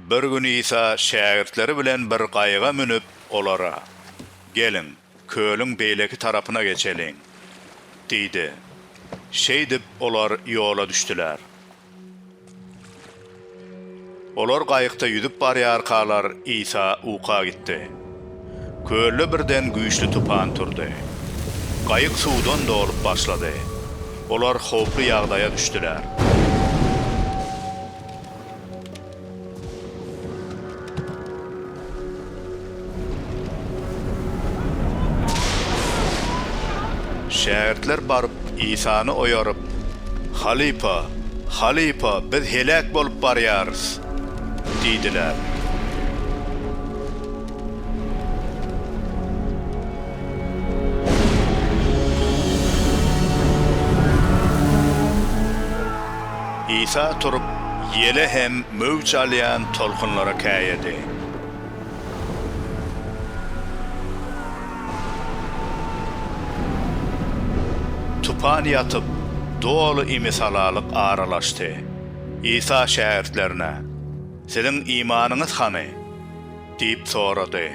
Bir gün Isa şägirtleri bilen bir gaýyga münüp, olara, Geliň, kölüň beýleki tarapyna geçeliň! diýdi. Şeýdip, olar ýola düşdüler. Olar gaýykda ýüzüp barýarkalar, Isa uka gitdi. Kölde birden güýçli tupan turdy. Gaýyk suwdan dolup başlady. Olar howply ýagdaýa düşdüler. Şägirtler baryp, Isany oýaryp, Halypa, halypa, biz heläk bolup barýarys! diýdiler. Isa turup, ýele hem möwç alýan tolkunlara käýedi. Tupan ýatyp, doly imisalalyk aralaşdy. Isa şägirtlerine, Siziň imanyňyz hany? diýip sorady.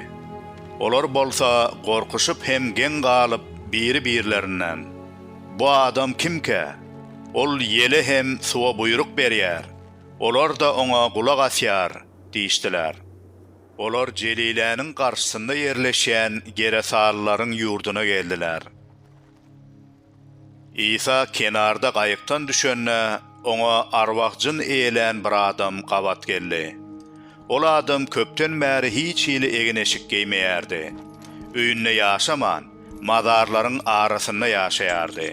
Olar bolsa gorkuşyp hem geň galyp, biri-birlerinden, Bu adam kimkä? Ol ýele hem suwa buýruk berýär, olar-da oňa gulak asýar. diýişdiler. Olar Jeliläniň garşysynda ýerleşýän geresalylaryň ýurduna geldiler. Isa kenarda gaýykdan düşende, oňa arwah-jyn eýlän bir adam gabat geldi. Ol adam köpden bäri hiç hili egin-eşik geýmeýärdi. Öýünde ýaşaman, mazarlaryň arasynda ýaşaýardy.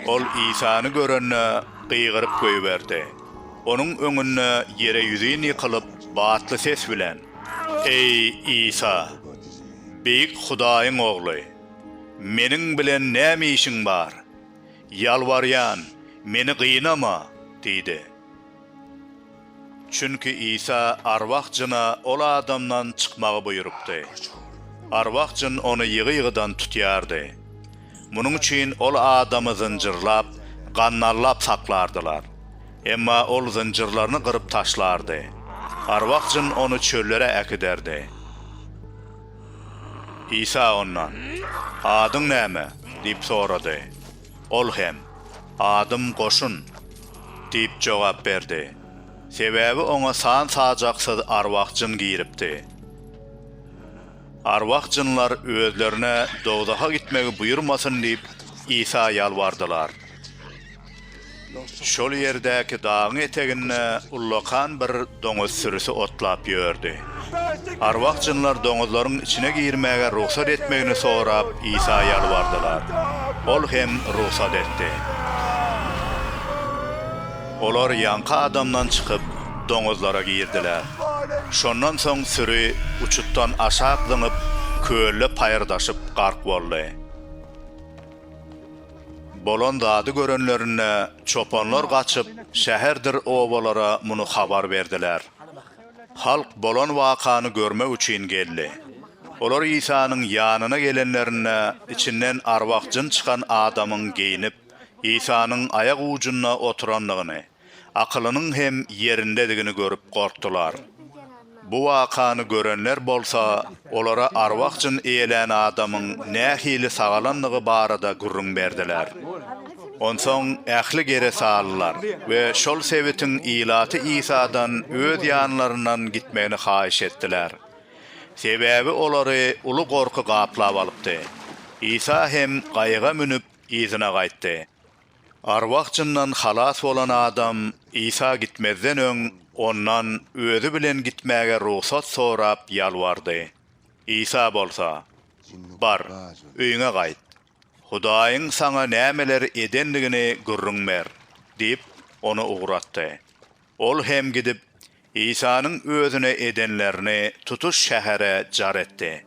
Ol Isany görende, gygyryp goýberdi. Onuň öňünde ýere ýüzin ýykylyp, batly ses bilen, Eý, Isa, Beýik Hudaýyň Ogly, meniň bilen näme işiň bar? Ýalbarýan, meni gynama! diýdi. Çünki Isa arwah jyna ol adamdan çykmagy buýrupdy. Arwah jyn ony ýygy-ýygydan tutýardy. Munuň üçin ol adamy zynjyrlap, gandallap saklardylar. Emma ol zynjyrlaryny gyryp taşlardy. Arwah jyn ony çöllere äkiderdi. Isa ondan, Adyň näme? diýip sorady. Ol hem, Adym Goşun! diýip jogap berdi. Sebäbi oňa san-sajaksyz arwah-jyn giripdi. Arwah-jynlar özlerine dowzaha gitmegi buýurmasyn diýip, Isa ýalbardylar. Şol ýerdäki dagyň eteginde ullakan bir doňuz sürüsi otlap ýördi. Arwah-jynlar doňuzlaryň içine girmäge rugsat etmegini sorap Isa ýalbardylar. Ol hem rugsat etdi. Olar ýaňky adamdan çykyp, doňuzlara girdiler. Şondan soň süri uçutdan aşak zyňyp, kölde paýyrdaşyp gark boldy. Bolan zady görenlerinde, çopanlar gaçyp, şäherdir obalara muny habar berdiler. Halk bolan wakany görmek üçin geldi. Olar Isanyň ýanyna gelenlerinde, içinden arwah-jyn çykan adamyň geýnip, Isanyň aýak ujunda oturandygyny, akylynyň hem ýerindedigini görüp gorkdular. Bu wakany görenler bolsa olara arwah-jyn eýlän adamyň nähili sagalandygy barada gürrüň berdiler. Onsoň ähli geresalylar we şol sebitiň ilaty Isadan öz ýanlaryndan gitmegini haýyş etdiler. Sebäbi olary uly gorky gaplap alypdy. Isa hem gaýyga münüp, yzyna gaýtdy. Arwah-jyndan halas bolan adam Isa gitmezden öň Ondan özi bilen gitmäge rugsat sorap ýalbardy. Isa bolsa, Bar, öýüňe gaýt. Hudaýyň saňa nämeler edendigini gürrüň ber diýip, ony ugratdy. Ol hem gidip, Isanyň özüne edenlerini tutuş şähere jar etdi.